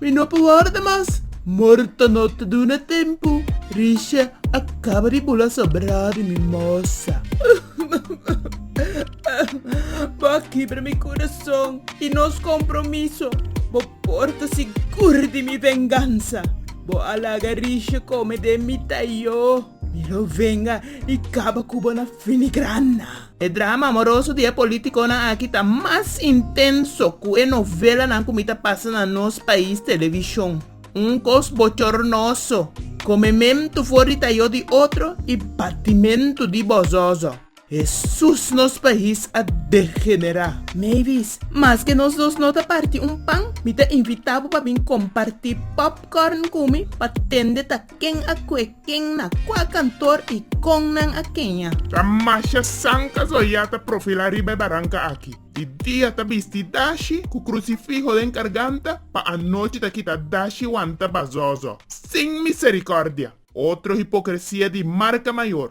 Mi no por worda mas. Morto no ta duna tempu. Risha a kaba di bula sobrá di mi mosa. Bo a kibra mi kurason i nos kompromiso. Bo por ta sigur di mi vengansa. Bo a laga Risha kome den mi tayo. Mi lo venga i kaba ku bo na finigrana. E drama amoroso di e politiconan aki ta mas intenso cu e novelanan cu mi ta pasa na nos pais television. Un cos bochornoso, comemento for di tayo di otro y batimento di bozozo. Hesus nos pais a degenera. Mavis, Maske nos dos no ta parti un pan, mi ta invita bo pa bin comparti popcorn cu mi pa tende ta. Ken a kue ken na kua kantor i kon nan a keña? Ta masha sanka so ya ta profilá riba e baranka aki. Di dia ta bisti dashi ku krusifiho den karganta, pa anochi ta kita dashi wanta bazó so, sin miserikòrdia. Otro hipokresia di marka mayor.